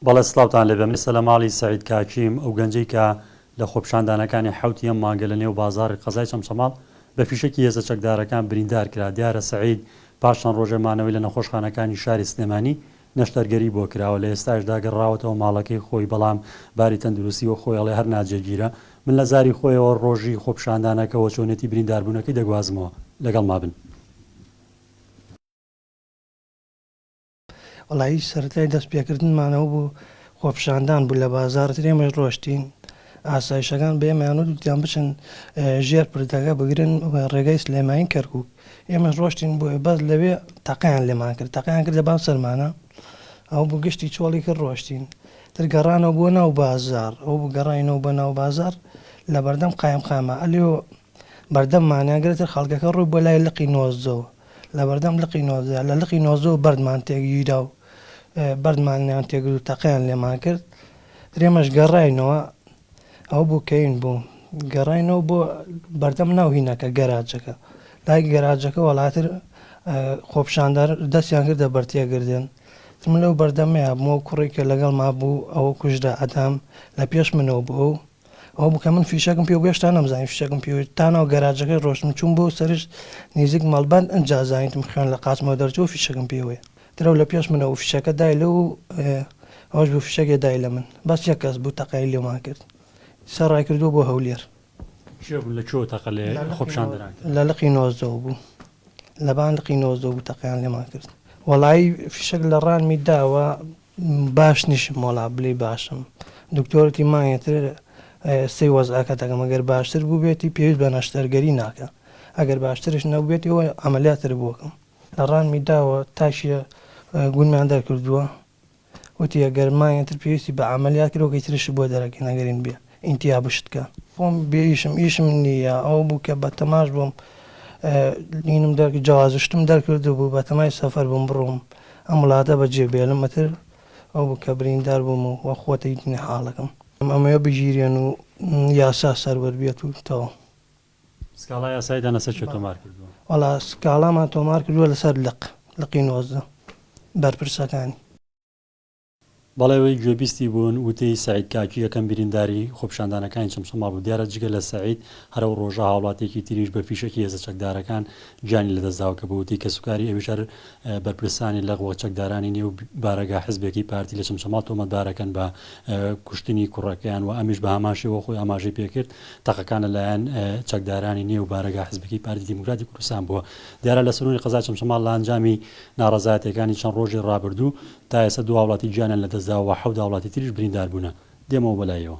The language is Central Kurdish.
بەڵێ سڵاوتان لێبێ من سەلە ماڵی سەعید کاکیم ئەو گەنجەی کە لە خۆپشاندانەکانی حوتی ئەم مانگە لە نێو بازاری قەزای چەمچەماڵ بە فیشەکی هێزە چەکدارەکان بریندار کرا دیارە سەعید پاش چەند ڕۆژێ مانەوەی لە نەخۆشخانەکانی شاری سلێمانی نەشتەرگەری بۆ کراوە لە ئێستاشدا گەڕاوەتەوە ماڵەکەی خۆی بەڵام باری تەندروستی وە خۆی ئەڵێ هەر ناجێگیرە من لە زاری خۆیەوە ڕۆژی خۆپشاندانەکەەوە چۆنێتی برینداربوونەکەی دەگوازمەوە لەگەڵ مابن. وەڵا هیچ سەرەتای دەست پێکردنمانەوە بۆ خۆپیشاندان بوو لە بازاڕ ئێمەش ڕۆشتین ئاسایشەکان بێمانوت گوتیان بچن ژێر پردەکە بگرن ڕێگەی سلێمانی کەرکک ئێمەش ڕۆشتین بۆ بەس لەوێ تەقیان لێمان کرد تەقیان کرد لە بام سەرمانە ئەو بۆ گشتی چۆڵی کرد ڕۆشتین ترگەڕانەوە بۆ ناو بازار ئەو بگەڕینەوە بە ناو بازار لە بەردەم قایم قامە ئەلیۆ بەردەممانیان گرێتە خەڵکەکە ڕووی بۆ لای لقی نۆزەوە لەبەردەم لقی نۆزدە، لە لقی نۆزدە و بەردمان تێکگیرا و بەردمانیان تێ گرت و تەقەیان لێمان کرد. درێمەش گەڕاینەوە، ئەوە بوو کەین بوو. گەڕاینەوە بۆ بەردەم ناو هینەکە، گەراجەکە. لای گەراجەکە وەڵاتر خۆپیشاندەر دەستیان کردە بەر تێگردن. من لەو بەردەمەیا بووم، ئەو کوڕی کە لەگەڵما بوو ئەوە کوژرا، ئەدام لە پێش منەوە بوو. ئەو ئەوە بوو کە من فیشەکم پێ بوو هێشتا نەمزانی فیشەکم پێ بوو تا ناو گەراجەکەی ڕۆشتم چووم بۆ سەرش نیزیک مەڵبەند ئنجا زانیتم خوێن لە قاچمەوە دەرچوو فیشەکم پێ وەیە درەو لە پێش منە و فیشەکە دای لەو ئەوەش بوو فیشەکێ دای لە من بەس یەک کەس بوو تەقەی لێمان کرد سە ڕای کردووە بۆ هەولێر. کێ بوون لە کوێوە تەقە لە خۆپیشاندەران کرد؟ لە لقی نۆزدەوە بوو لەبان لقی نۆزدە بوو تەقەیان لێمان کرد وەڵایی فیشەک لە ڕانمی داوە باش نیشم وەڵا بلی باشم دکتۆرتی مانگێ تر سەی وەزعەکە دەکەم ئەگەر باشتر بوبێتی پێویست بە نەشتەرگەری ناکە ئەگەر باشترش نەبوبێتی وە عەمەلیات تر بۆکەم لە ڕانمی داوە تاکیە گونمیان دەرکردوە وتی ئەگەر مانگێ تر پێویستی بە عەمەلیات کرۆکی ترشت بۆ دەرەکەین ئەگەر هین بیە ئینتیا بشتکە خۆم بێ ئیشم ئیشم نی یە ئەوە بوو کە بە تەماش بووم دینم دەرک جوازشتم دەرکرد بوو بە تەمای سەفەر بووم بڕۆم ئەم وڵاتە بە جێ بێلم ئەتر ئەو بوو کە بریندار بووم و وە خۆتە یتنی حاڵەکەم ئەمەوێ بگیرێن و یاسا سەروەر بێت و تەواو. سکاڵا یاساییتان لەسەر کێ تۆمار کردووە؟ وەڵا سکاڵامان تۆمار کردووە لەسەر لق لقی نۆزدە بەرپرسەکانی. بەڵێ وەی گوێبیستی بوون وتەی سەعید کاکی یەکەم برینداری خۆپیشاندانەکانی چەمچەماڵ بوو، دیارە جگە لە سەعید هەر ئەو ڕۆژە هاوڵاتیەکی تریش بە فیشەکی هێزە چەکدارەکان گیانی لەدەستداوە کە بە وتەی کەسوکاری ئەویش هەر بەرپرسانی لق و چەکدارانی نێو بارەگا حزبێکی پارتی لە چەمچەماڵ تۆمەتبارەکەن بە کوشتنی کوڕەکەیان و ئەمیش بە هەمان شێوە خۆی ئاماژەی پێکرد تەقەکان لەلایەن چەکدارانی نێو بارەگا حزبەکەی پارتی دیموکراتی کوردستان بووە دیارە لە سەرونی قەزای چەمچەماڵ لە ئەنجامی ناڕەزایەتەکانی چەند ڕۆژی ڕابردوو تا ئێستا دوو هاوڵاتی گیانیان لەدەستداوە و حەوت هاوڵاتی تریش برینداربوونە. دێمەوە بەلایەوە.